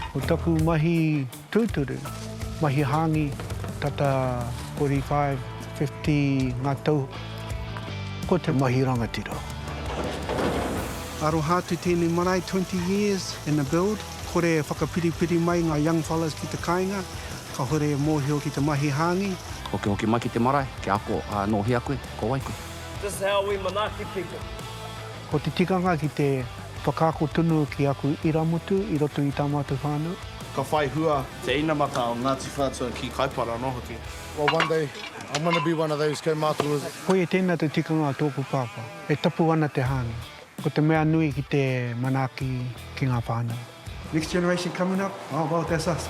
Ko taku mahi tūturu, mahi hāngi, tata 45, 50 ngā tau, ko te mahi rangatira. Aroha atu tēnei marae, 20 years and a build, kore e whakapiripiri mai ngā young fellas ki te kāinga, kāore e mōhio ki te mahi hāngi. Hokihoki mai ki te marae, kia ako, ā, nō hea koe, ko wai koe? This is how we Manaaki people. Ko te tikanga ki te whakaako tonu ki aku irāmutu i roto i tā mātou whānau. Ka whai hua te inamata o Ngāti Whātua ki Kaipara anō hoki. Well one day I'm going to be one of those kaumātua. Koia tēnā te tikanga o tōku pāpā. E tapu ana te hāngai. Ko te mea nui ki te manaaki ki ngā whānau. Next generation coming up, oh well that's us.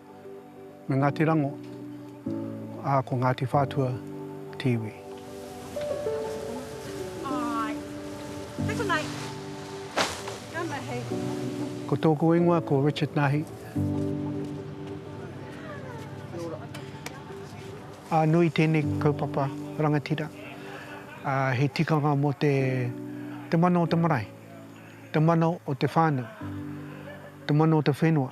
Me Ngāti Rango, ā, ko Ngāti Whātua te iwi. Ko tōku ingoa ko Richard Nahi. Ā, nui tēnei kaupapa rangatira. Ā, he tikanga mō te mana o te marae, te mana o te whānau, te mana o te whenua.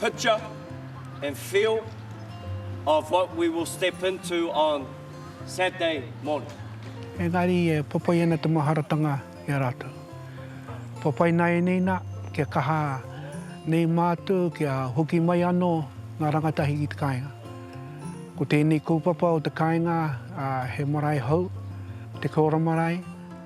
picture and feel of what we will step into on Saturday morning. Engari e whawhai ana te maharatanga i a rātou. Whawhai nāianei nā, kia kaha nei mātou kia hoki mai anō ngā rangatahi ki te kāinga. Ko tēnei kaupapa o te kāinga he marae hou, te Kora Marae,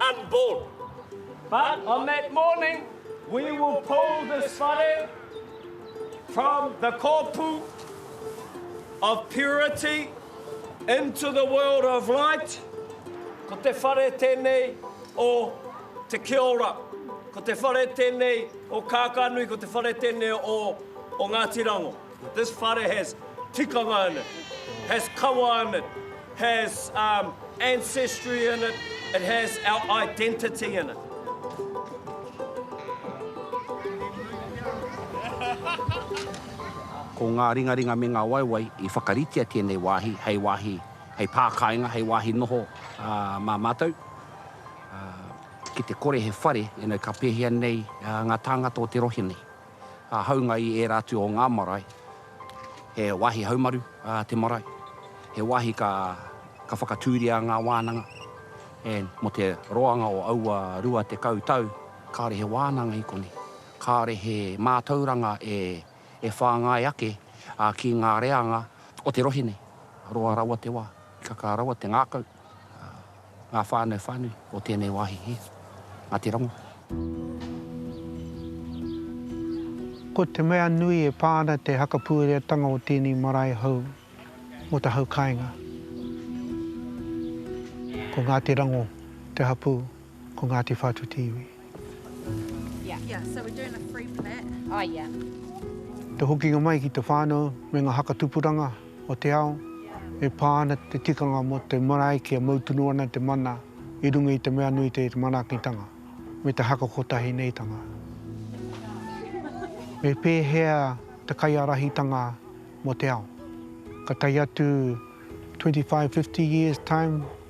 unborn. But on that morning we will pull this whare from the kōpū of purity into the world of light, ko te whare tēnei o te kiora, ko te whare tēnei o Kākānui, ko te whare tēnei o Ngāti Rango. This whare has tikanga in it, has kawa in it, has um, ancestry in it, it has our identity in it. Ko ngā ringaringa me ngā waewae i whakaritea tēnei wāhi hei wāhi, hei pākāinga, hei wāhi noho uh, mā mātou. Uh, ki te kore he whare, you know, ka pēhea nei uh, ngā tāngata o te rohe nei. ka haunga i ērā atu o ngā marae. He wāhi haumaru te marae, he wāhi ka whakatūria ngā wānanga, and mō te roanga o aua 20 tau, kāore he wānanga i konei, kāore he mātauranga e whāngai ake ki ngā reanga o te rohe nei. Roa rawa te wā, kakā rawa te ngākau. Ngā whānau whānui o tēnei wāhi hē. Ngāti Rongo. Ko te mea nui e pā ana te hakapuereatanga o tēnei marae hou mō te hau kāinga, ko Ngāti Rango te hapū. Ko Ngāti Whātu te iwi. Yeah. Yeah, so we're doing a free for that. Oh, yeah. Te hokinga mai ki te whānau me ngā haka tupuranga o te ao, e pā ana te tikanga mō te marae kia mau tunu ana te mana i runga i te mea nui te manaakitanga me te haka kotahi neitanga. Me pēhea te kaiārahitanga mō te ao? Ka tae atu 25, 50 years time,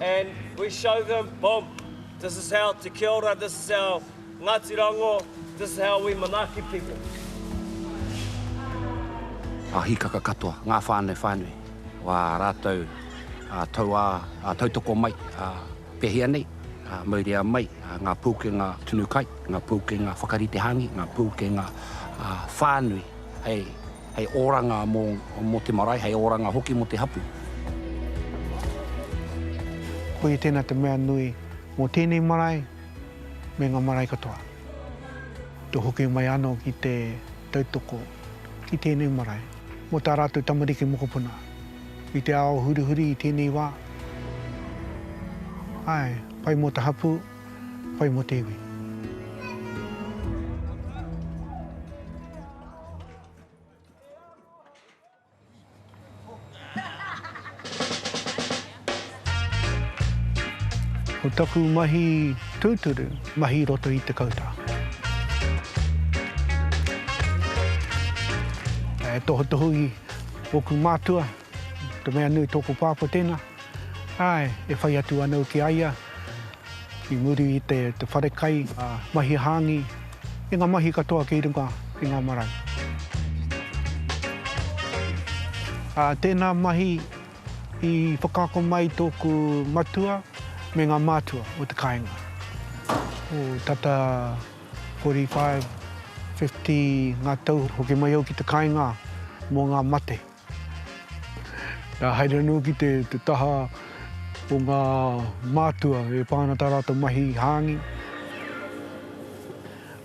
And we show them, boom, this is how to kia ora, this is how Ngati Rango, this is how we manaaki people. Ā hīkaka katoa ngā whānau whānui o ā rātou tauā tautoko mai, ā, pēhea nei, ā, mauria mai ngā pūkenga tunu kai, ngā pūkenga whakarite hāngi, ngā pūkenga whānui hei Hei oranga mō, mō te marae, hei oranga hoki mō te hapū. Koia tēnā te mea nui mō tēnei marae me ngā marae katoa. Te hoki mai anō ki te tautoko ki tēnei marae mō tā rātou tamariki mokopuna i te ao hurihuri i tēnei wā. Āe, pai mō te hapū, pai mō te iwi. Ko taku mahi tūturu, mahi roto i te kautā. E tohutohu i oku mātua, te mea nui tōku pāpō tēnā. Āe, e whai atu anō ki a ia, I muri i te wharekai, ngā mahi hāngi, me ngā mahi katoa kei runga i ngā marae. Tēnā mahi i whakaako mai tōku matua me ngā mātua o te kāinga. Ko tata 45, 50 ngā tau hoki mai au ki te kāinga mō ngā mate. Ka haere anō ki te taha o ngā mātua e pā ana tā rātou mahi hāngi,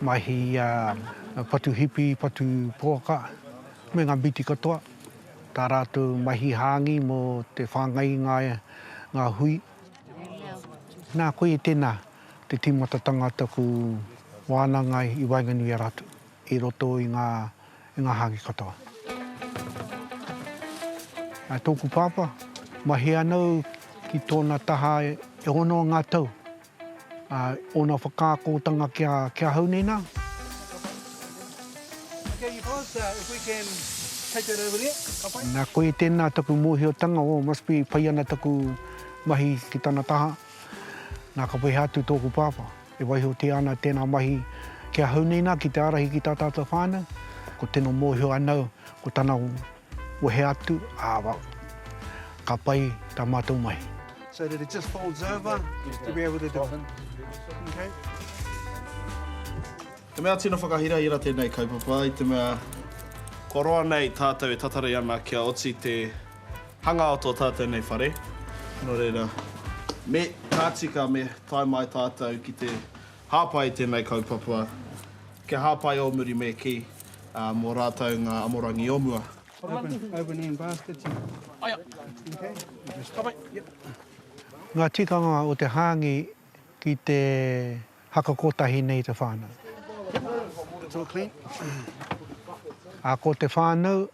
mahi patu hipi, patu poaka, me ngā mīti katoa, tā rātou mahi hāngi mō te whāngai i ngā hui. Nā koe tēnā te tīmatatanga taku wānanga i waenganui i a rātou. i roto i ngā i ngā hāki katoa. A tōku pāpā, mahia ana au ki tōna taha e ono ngā tau. A ōna whakaakotanga ki a, ki ahau nei nā. Okay, you both, uh, if we can take that over there, ka pai? Nā koe tēnā taku mōhiotanga, oh, must be pai ana taku mahi ki tana taha. Nā ka peha atu tōku pāpā. E waihotia ana tēnā mahi ki ahau nei nā ki te ārahi ki tā tātou whānau, ko tino mōhio anau ko tana wehe atu, ā, ka pai tā mātou mahi. So that it just folds over just to be able to do it. He mea tino whakahirahira tēnei kaupapa i te mea. Kua roa nei tātou e tatari ana kia oti te. Hanga o tō tātou nei whare, nō reira, me ka tika me tae mai tātou ki te hāpai i tēnei kaupapa, kia hāpai ō muri me kī, ā, mō rātou ngā amorangi o mua. Ngā tikanga o te hāngi ki te haka kotahi nei i te whānau. Ā, ko te whānau.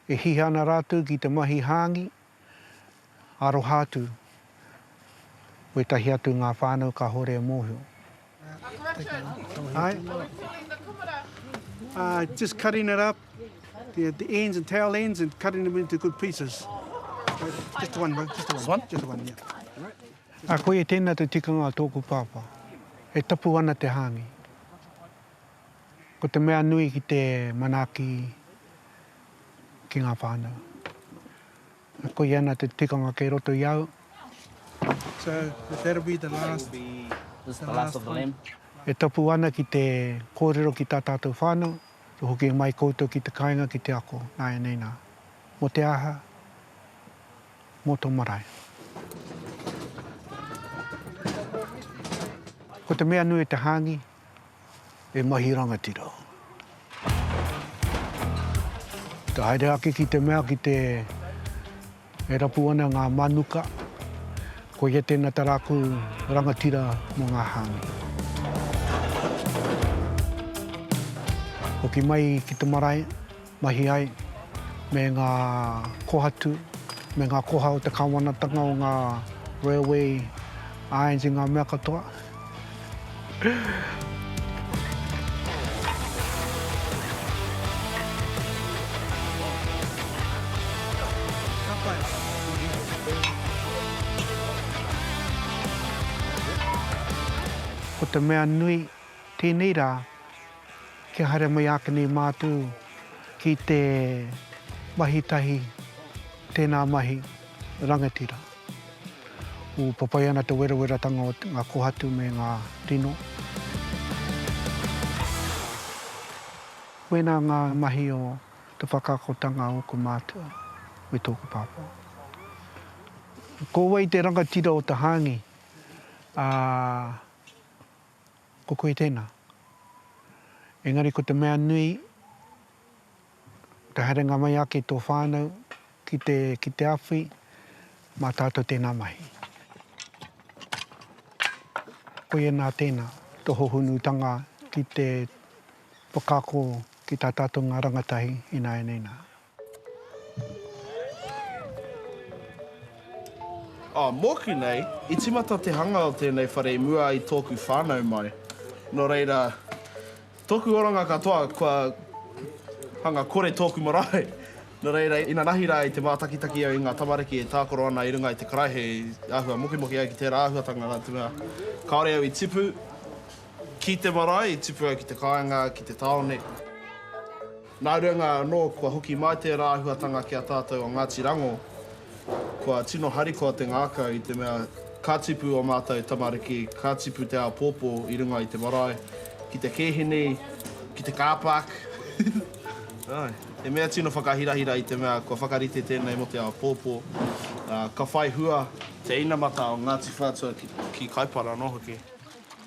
e hiha ana rātou ki te mahi hāngi, aroha atu wētahi atu ngā whānau kāore e mōhio. Uh, just cutting it up, the, the ends and tail ends, and cutting them into good pieces. Just one, just the one. Just one, yeah. A koe e tēnā te tikanga a tōku pāpā. E tapu ana te hāngi. Ko te mea nui ki te manaaki ki ngā whānau, e koi ana te tikanga kei roto i au. E tapu ana ki te kōrero ki tā tātou whānau, kia hoki mai koutou ki te kāinga ki te ako nāianei nā. Mō te aha? Mō tō marae. Ko te mea nui te hāngi, e mahi rangatira. Te haere ake ki te mea ki te e rapu ana ngā manuka, koia tēnā tā rāku rangatira mō ngā hāngi. Hoki mai ki te marae, mahi ai, me ngā kohatu, me ngā koha o te Kāwanatanga, o ngā railway irons i ngā mea katoa. Ko te mea nui, tēnei rā, Kia haere mai ake nei mātou ki te mahi tahi tēnā mahi rangatira. Ūpapai ana te werowerotanga o ngā kohatu me ngā rino. Wēnā ngā mahi o te whakakotanga o ōku mātua me tōku pāpā. Ko wai te rangatira o te hāngi, ā, Ko koe tēnā. Engari ko te mea nui, te haerenga mai ake i tō whānau ki te, ki te awhi, mā tātou tēnā mahi. Koia nā tēnā, tō hohonutanga ki te whakaako ki tā tātou ngā rangatahi ināianei nā. Mōku nei, i tīmata te hanga o tēnei whare i mua i tōku whānau mai. Nō reira, tōku oranga katoa kua hanga kore tōku marae. Nō reira, inanahi rā i te mātakitaki au i ngā tamariki e tākaro ana i runga i te karaehe i āhua mokimoki ai ki tērā āhuatanga rā te mea kāore au i tipu ki te marae, i tipu au ki te kāinga, ki te tāone. Nā runga anō kua hoki mai tērā āhuatanga ki a tātou o Ngāti Rango, kua tino harikoa te ngākau i te mea ka tipu ō mātou tamariki, ka tipu te āpōpō i runga i te marae, ki te kēhini, ki te car park. He mea tino whakahirahira i te mea kua whakarite tēnei mō te āpōpō, ka whai hua. Te inamata o Ngāti Whātua ki Kaipara anō hoki.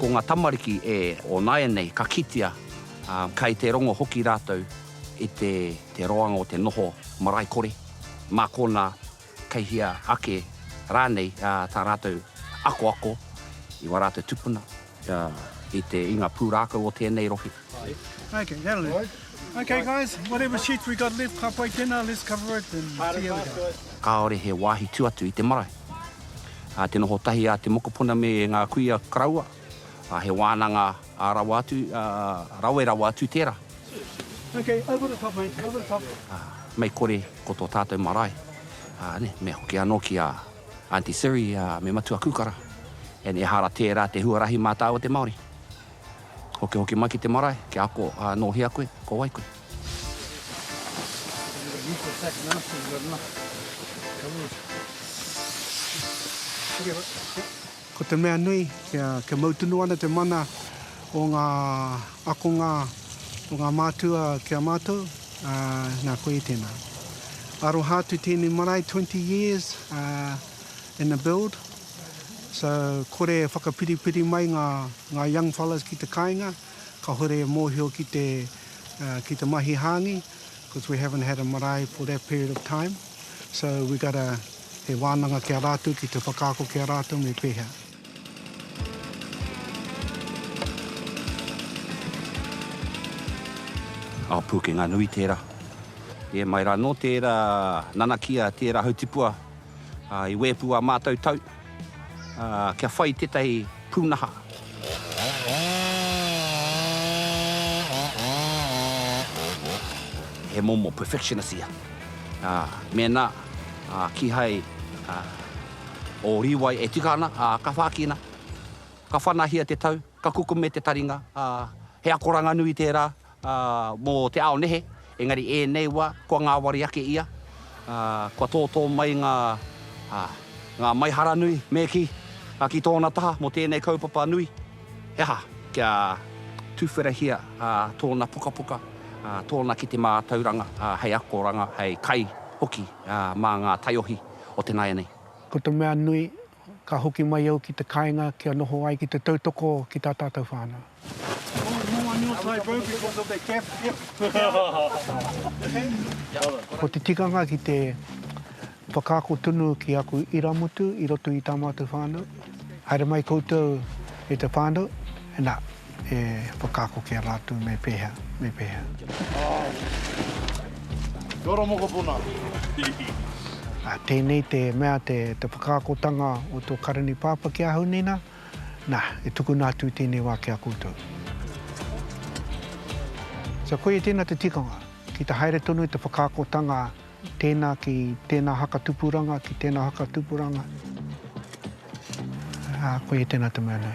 Ko ngā tamariki e onāianei ka kitea, ā, kei te rongo hoki rātou i te te roanga o te noho marae kore, mā konā kei hea ake rānei tā rātou akoako i wā rātou tupuna. Ā, i te, i ngā pūrākau o tēnei rohe. Āe. Okay, that'll do. Okay guys, whatever sheets we got left, ka pai tēnā, let's cover it and see how we go. Kāore he wāhi tū atu i te marae. Ā, te noho tahi a te mokopuna me ngā kuia karaua, ā, he wānanga ā rawa atu, ā, rawe rawa atu tērā. Okay, over the top mate, over the top. Ā, mei kore ko tō tātou marae, ā, nē, me hoki anō ki a Aunty Siri, me Matua Kukara, and ehara tērā te huarahi mā tāua te Māori. Hokihoki mai ki te marae, kia ako nō hea koe, ko wai koe. Ko te mea nui, kia, kia mau tunu ana te mana o ngā akonga o ngā mātua ki a mātou, ā, nā, koe i tēnā. Aroha atu tēnei marae, 20 years, ā, in the build, so kore e whakapiripiri mai ngā, ngā young fellas ki te kāinga, kāore e mōhio ki te, ā, ki te mahi hāngi. Because we haven't had a marae for that period of time, so we got to, he wānanga ki a rātou ki te whakaako ki a rātou me pēhea. Ao pūkenga nui tērā. E mai rā, nō tērā nanakia, tērā hautipua. I wēpu ā mātou tau kia whai tētahi pūnaha. He momo perfectionist ia. Mēnā kīhai ō rīwai e tika ana, ka whākina, ka whanahia te tau, ka kukume te taringa, he akoranga nui tērā, ā, mō te ao nehe, engari ēnei wā, kua ngāwari ake ia, ā, kua tōtō mai ngā, ā, ngā maiharanui, me kī, ā, ki tōna taha mō tēnei kaupapa nui, he aha, kia tuwherahia, ā, tōna pukapuka, ā, tōna kete mātauranga, ā, hei akoranga, hei kai hoki, ā, mā ngā taiohi o te nāianei. Ko te mea nui, Ka hoki mai au ki te kāinga kia noho ai ki te tautoko ki tā tātou whānau. Ko te tikanga ki te whakaako tonu ki aku irāmutu i roto i tā mātou whānau, haere mai koutou e te whānau, nā, e whakaako ki a rātou me pēhea, me pēhea. Āe. Kia ora mokopuna. Hihi. Tēnei te mea te whakaakotanga o tō Karani Pāpā ki ahau nei nā, nā, e tukuna atu i tēnei wā ki a koutou. So koia tēnā te tikanga, ki te haere tonu i te whakaakotanga tēnā ki tēnā haka tupuranga, ki tēnā haka tupuranga. Koia tēnā te mea nei.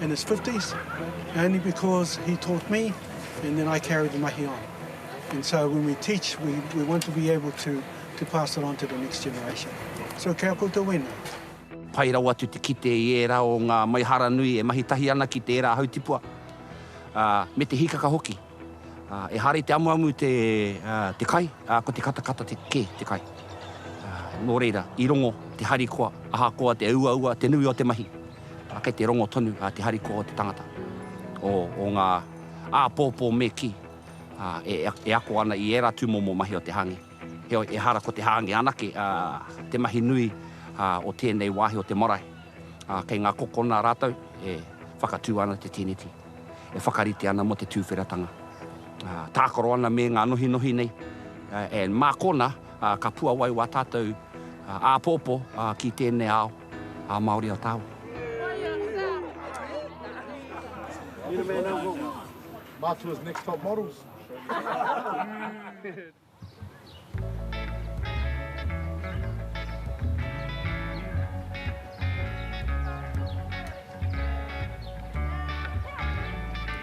in his fifties only because he taught me and then I carried the mahi on and so when we teach we we want to be able to to pass it on to the next generation. So kia koutou wena. Pai rawa atu te kite i ērā o ngā maiharanui e mahi tahi ana ki tērā hautipua, ā, me te hīkaka hoki. Ehara i te amuamu te kai, ko te katakata kē te kai. Nō reira, i rongo te harikoa, ahakoa te uaua, te nui o te mahi, kei te rongo tonu te harikoa o te tangata, o ngā āpōpō me kī, e ako ana i ērā tūmomo mahi o te hāngi. Heoi, ehara ko te hāngi anake te mahi nui o tēnei wāhi o te marae. Kei ngā kokona rātou e whakatū ana te tēneti. e whakarite ana mō te tūwheratanga, tākaro ana me ngā nohinohi nei, and mā kona ka puawai wā tātou āpōpō ki tēnei ao Māori o Tāua.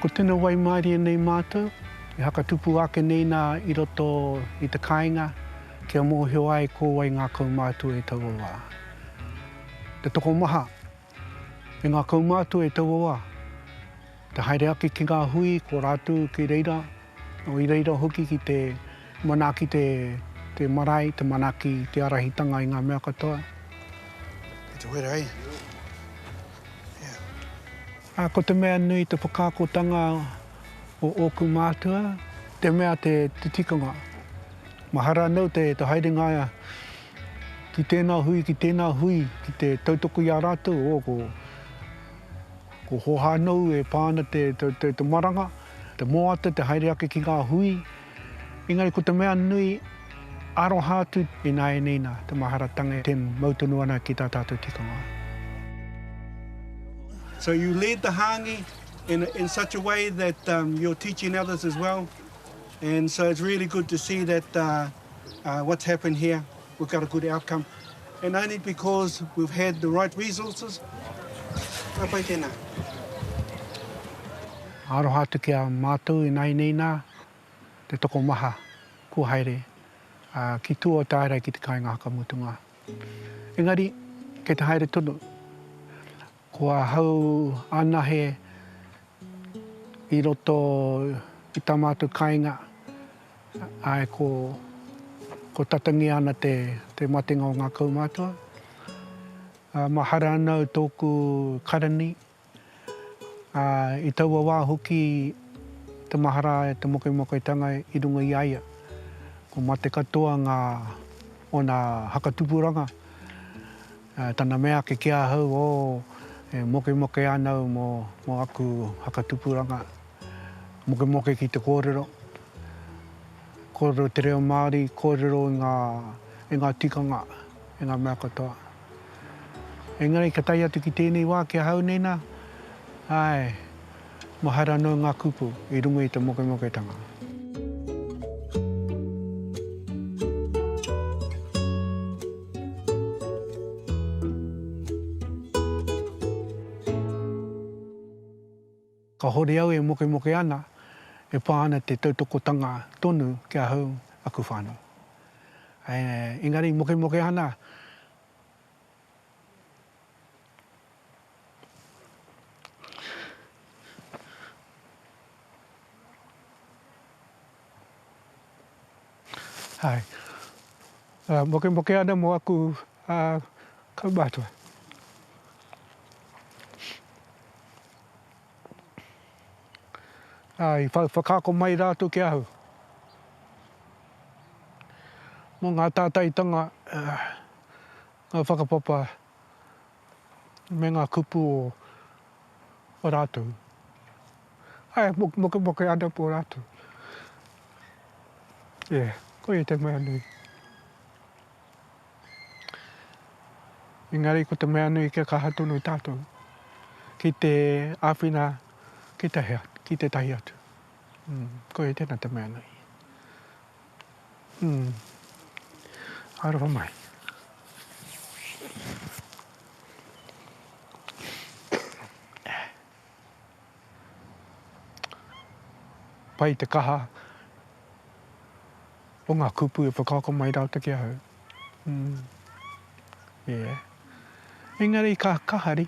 Ko tena waimārie nei mātou, e hakatupu ake nei nā i roto i te kāinga kia mōhio ai ko wai ngākau mātou e taua wā. Te tokomaha E ngakau mātou e taua wā, te haere ake ki ngā hui ko rātou ki reira, nō i reira hoki ki te manaaki te marae, te manaaki te ārahitanga i ngā mea katoa. Kei te wera hei. Ā, ko te mea nui te whakaakotanga o ōku mātua, te mea te tikanga. Mahara anō te haerenga ki tēnā hui, ki tēnā hui, ki te tautoko i a rātou, o, ko, ko Hohānou e pā ana te, te, te, te maranga, te moata, te haere ake ki ngā hui. Engari ko te mea nui, aroha atu i nāianei nā, te maharatanga e ten, mau tonu ana ki tā tātou tikanga. So you lead the hāngi in, in such a way that um, you're teaching others as well. And so it's really good to see that, uh, what's happened here, we've got a good outcome, and only because we've had the right resources. Ka pai tēnā. Aroha atu ki a mātou ināianei nā te tokomaha kua haere ki tua o tārai ki te kāinga hakamutunga. Engari, kei te haere tonu, Ko ahau anahe i roto i tā mātou kāinga, āe, ko tatangia ana te matenga o ngā kaumātua. Mahara ana au tōku karani, ā, i taua wā hoki te mahara e te mokemokeatanga i runga i a ia. Ko mate katoa ngā, ōna hakatupuranga. Tana mea ake ki ahau, o, e mokemoke ana au mo mo aku whakatupuranga, mokemoke ki te kōrero, kōrero te reo Māori, kōrero i ngā, i ngā tikanga, i ngā mea katoa. Engari ka tae atu ki tēnei wā ki ahau nei nā, āe, Mahara anō ngā kupu i runga i te mokemoketanga. Kāore au e mokemoke ana, e pā ana te tautokotanga tonu ki ahau, aku whānau. Engari mokemokehana Mokemoke ana mo aku kaumatua. I whakaako mai rātou ki ahau. Mo ngā tātaitanga ngā whakapapa me ngā kupu o o rātou. Ae, mokemoke ana pō rātou. Ē, koia te mea nui. Engari ko te mea nui kia kaha tonu tātou ki te āwhina ki te hea, ki tētahi atu. Koia tēnā te mea nui. Hum. Aroha mai. Pai te kaha o nga kupu e whakaako mai raote ki ahau. Hum. Yeah. Engari ka kahari.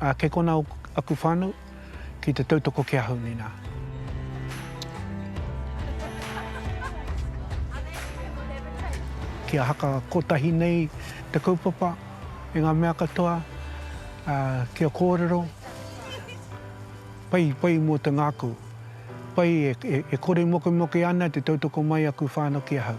Ā, kei konā aku whānau ki te tautoko ki ahau, nēnā. Kia haka kotahi nei te kaupapa i ngā mea katoa, ā, kia kōrero, pai, pai mō te ngākau, pai e, e, e kore mokemoke ana te tautoko mai aku whānau ki ahau.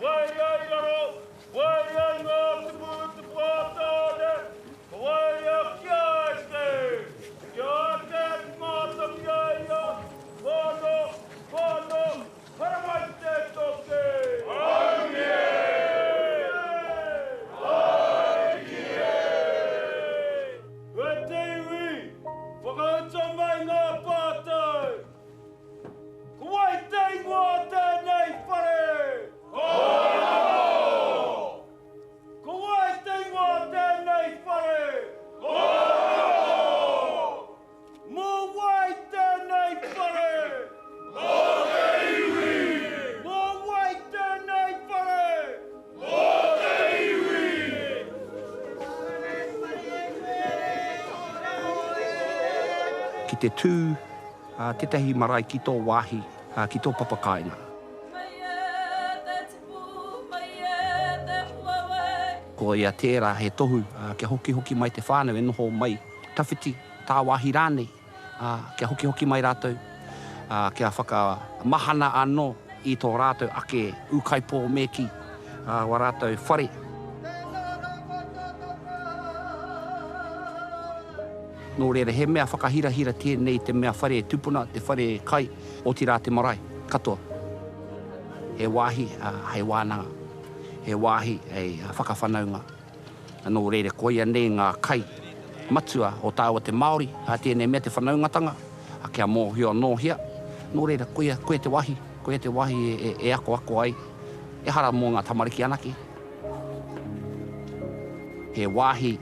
Waea i raro, waea i ngā tupu tupu a Tāne, ka waea ki a eke, ki a eke ki ngā tangi a ia, whano, whano, haramai te toke! Aue! Aue! Aue! Kua te iwi, whakauta mai ngā pātai! Ko wai te ingoa o tēnei whare? Kōrero! Ko wai te ingoa o tēnei whare? Kōrero! Mō wai tēnei whare? Mō te iwi! Mō wai tēnei whare? Ki te tū tētahi marae ki tō wāhi, ki tō papakāinga. Ko ia tērā he tohu kia hokihoki mai te whānau e noho mai, tawhiti, tāwāhi rānei. ā, kia hokihoki mai rātou, ā, kia whakamahana anō i tō rātou ake ūkaipō me kī, ā, wā rātou whare. Nō reira, he mea whakahirahira tēnei i te mea whare tupuna, te whare kai, otirā te marae katoa. He wāhi hei wānanga, he wāhi hei whakawhanaunga. Nō reira koia nei ngā kai matua o tāua te Māori, a tēnei mea te whanaungatanga, a kia mōhio anō hea, nō reira koia, koia te wahi, koia te wahi e akoako ai, ehara mō ngā tamariki anake. He wāhi,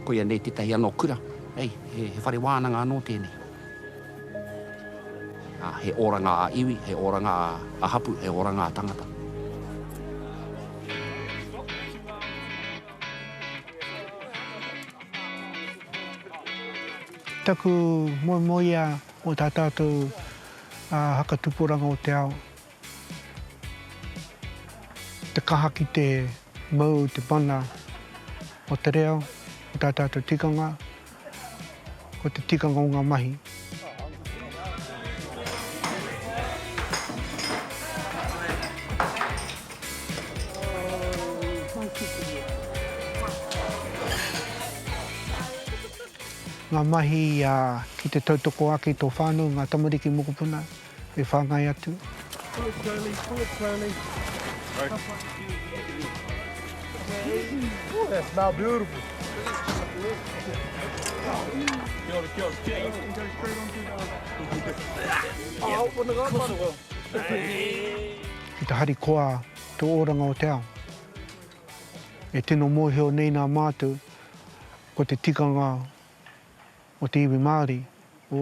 koia nei tētahi anō kura, hei, he whare wānanga anō tēnei. He oranga a iwi, he oranga a hapu, he oranga a tangata. Taku moemoeā mo tā tātou haka tuporanga o te ao, Te kaha ki te mau te mana o te reo, o tā tātou tikanga, ko te tikanga o ngā mahi. Ngā mahi ki te tautoko ake i tō whānau, ngā tamariki mokopuna. e whāngai atu. Ki te harikoa tō oranga o te ao. E tino mōhio nei nā mātou, ko te tikanga o te iwi Māori, ō.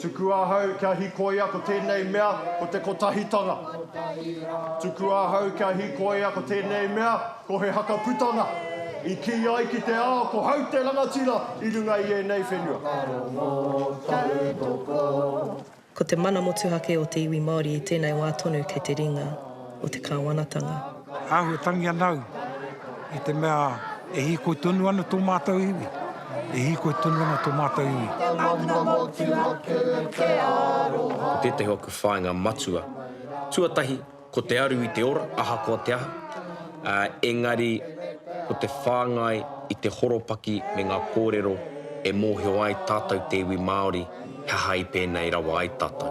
Tuku ahau kia hikoia ko tenei mea ko te kotahitanga. Tuku ahau kia hikoia ko tenei mea ko he haka putanga. I ki ai ki te ao ko hau te rangatira i runga i enei whenua. Ko te mana motuhake o te iwi Māori i tēnei wā tonu kei te ringa o te Kāwanatanga. Āhua tangi ana au i te mea e hīkoi tonu ana tō mātou iwi, e hīkoi tonu ana tō mātou iwi. He mana motu ake te aroha. Ko tētahi o aku whāinga matua, tuatahi, ko te aru i te ora, ahakoa te aha, ā, engari, ko te whāngai i te horopaki me ngā kōrero e mōhio ai tātou te iwi Māori, he aha i pēnei rawa ai tātou.